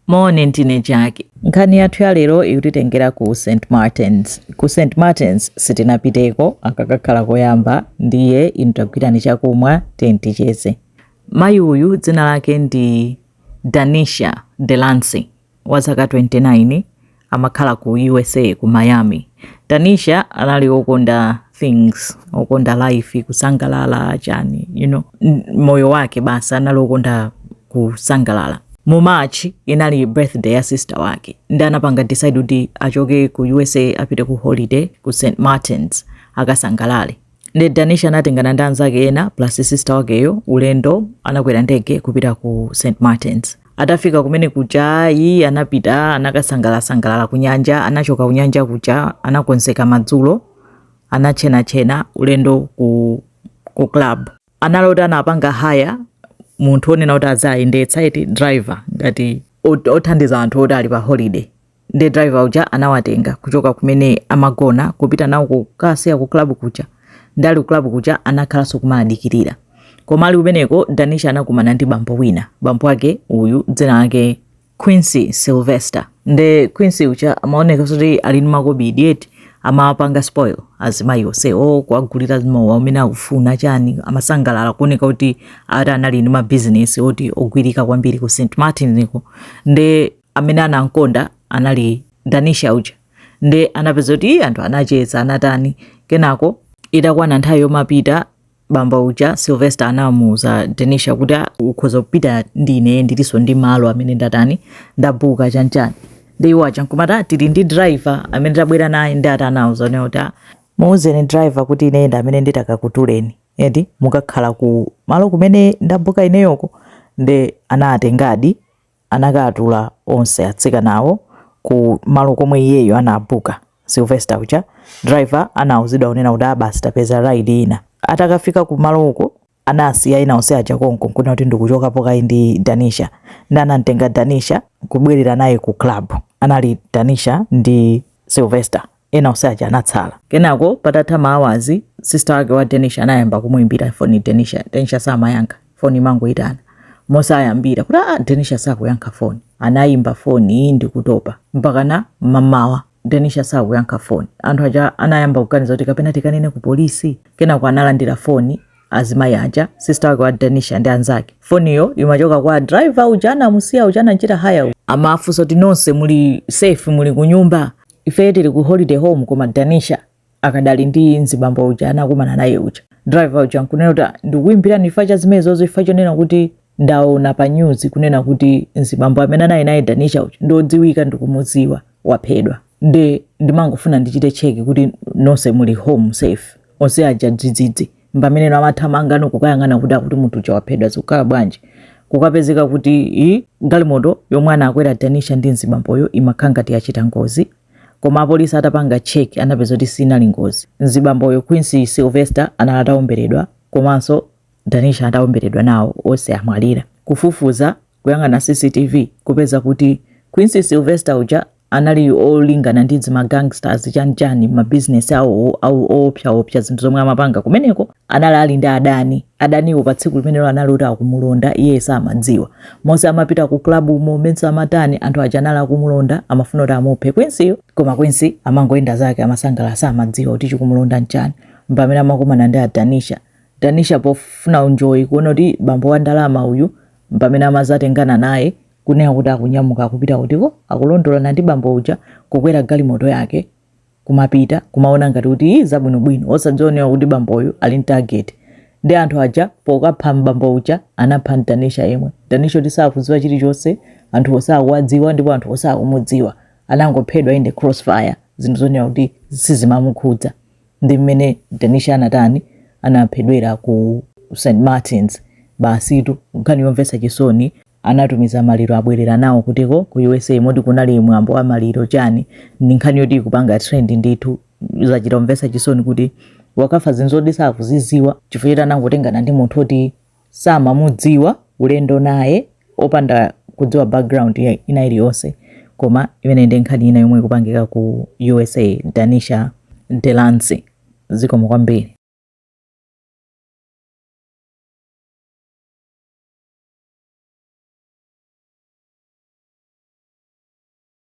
Moni, ndine Jack. Nkhani yathu ya lero ikutitengera ku St Martins. Ku St Martins sitinapiteko aka kakhala koyamba, ndiye inu ntagwirani chakumwa then ticheze. Mayi uyu dzina lake ndi Danisha Delancy wa zaka 29 amakhala ku usa ku miami danisha anali okonda things okonda life kusangalala chani you know mmoyo wake basi anali okonda kusangalala mu march inali birthday ya sister wake nde anapanga decide kuti achoke ku usa apite ku holiday ku st martins akasangalale Nde Danisha anatengana ndi anzake ena plus sister wakeyo ulendo anakwera ndege kupita ku St Martins. Atafika kumene kuja iyi anapita anakasangalalasangalala kunyanja, anachoka kunyanja kuja anakonzeka madzulo anatchenatchena ulendo ku club. anali oti anapanga hire munthu onena kuti aziayendetsa eti driver ngati othandiza anthu oti ali pa holiday nde driver uja anawatenga kuchoka kumene amagona kupita nawo kukaasiya ku club kuja nde ali ku club kuja anakhalanso kumaadikirira koma ali kumeneko danisha anakumana ndi bambo wina bambo wake uyu dzina lake Quincy Sylvester nde Quincy uja amaoneka kuti ali ndi makobidi eti amawapanga spoil azimayi onsewo kuwagulira mowa umene akufuna chani amasangalala kuoneka kuti ati anali ndi mabizinesi oti ogwirika kwambiri ku st martin-ko nde amene anamkonda anali danisha uja nde anapeza kuti "Ih, anthu anacheza anatani kenako itakwana nthawi yomapita bambo uja sylvester anamuuza danisha kuti "Ah, ukhoza kupita ndi ine ndilinso ndi malo amene ndatani ndabuka chanchani nde iwo aja nkumati "Ah, tili ndi driver amene tabwera naye nde ati anauzana kuti "Ah, muuzeni driver kuti ine ndi amene nditakakutuleni eti mukakhale ku malo kumene ndabuka ineyoko nde anatengadi anakaatula onse atsikanawo ku malo komwe iyeyo anaabuka Sylvester uja driver anauzidwa kunena kuti ah basi tapeza ride ina atakafika ku malo uko anaasiya ena onse aja konko nkunena kuti ndikuchokapo kayi ndi Danisha nde anamtenga Danisha kubwerera naye ku club anali Danisha ndi Sylvester ena onse aja anatsala kenako patatha maawazi sister wake wa danisha anayamba kumuimbira foni danisha danisha samayankha foni imangoyitana mosayembekezera kuti ah danisha sakuyankha foni anayimba foni ndikutopa mpakana mmamawa danisha sakuyankha foni anthu aja anayamba kuganiza kuti kapena tikanene ku polisi kenako analandira foni azimayi aja sister wake wa danisha ndi anzake foniyo imachoka kwa driver uja anamusiya uja anachita hire uja amafunsa kuti nonse muli safe muli kunyumba Ifeyo tili ku holiday home koma Danisha akadali ndi mzibambo uja anakumana naye uja. Driver uja nkunena kuti ndikukuimbirani chifukwa cha zimenezozo chifukwa chonena kuti ndaona pa news kunena kuti mzibambo amene anali naye Danisha uja ndi odziwika ndikumudziwa waphedwa. Nde ndimangofuna ndichite check kuti nonse muli home safe. Onse aja dzidzidzi. mpamene ena amathamanga nkukayang'ana kuti akuti munthu uja waphedwa zikukhala bwanji kukapezeka kuti i galimoto yomwe anakwera Danisha ndi mzibamboyo imakhala ngati yachita ngozi koma apolisi atapanga check anapeza kuti sinali ngozi mzibamboyo quincy sylvester anali ataomberedwa komanso danisha ataomberedwa nawo onse amwalira kufufuza kuyang'ana CCTV kupeza kuti Quincy Sylvester uja anali olingana ndi zima gangsters chanichani ma business awo awo oopsaopsa zinthu zomwe amapanga kumeneko anali ali ndi adani adaniwo pa tsiku limenelo anali oti akumulonda iye samadziwa monse amapita ku club umo monse amatani anthu aja anali akumulonda amafuna kuti amuphe Quincy-yo koma Quincy amangoyenda zake amasangalala samadziwa kuti chikumulonda nchani mpamene amakumana ndi Danisha danisha pofuna enjoy kuona kuti bambo wa ndalama uyu mpamene amazatengana naye kunena kuti akunyamuka akupita kutiko akulondolana ndi bambo uja kukwera galimoto yake kumapita kumaona ngati kuti i zabwinobwino osadziwa kunena kuti bamboyu ali ndi target ndi anthu aja pokapha bambo uja anapha ndi Danisha yemwe Danisha woti sakudziwa chilichonse anthu osakuwadziwa ndipo anthu osakumudziwa anangophedwa in the crossfire zinthu zonena kuti sizimamukhudza ndi mmene Danisha anatani anaphedwera ku St Martins basitu nkhani yomvetsa chisoni anatumiza maliro abwerera nawo kutiko ku USA moti kunali mwambo wa maliro chani ndi nkhani yoti ikupanga trend ndithu zachita kumvetsa chisoni kuti wakafa zinthu zoti sakuziziwa chifukwa choti anangotengana ndi munthu oti samamudziwa ulendo naye opanda kudziwa background ina iliyonse koma imene ndi nkhani ina yomwe ikupangika ku usa danisha Delancy zikomo kwambiri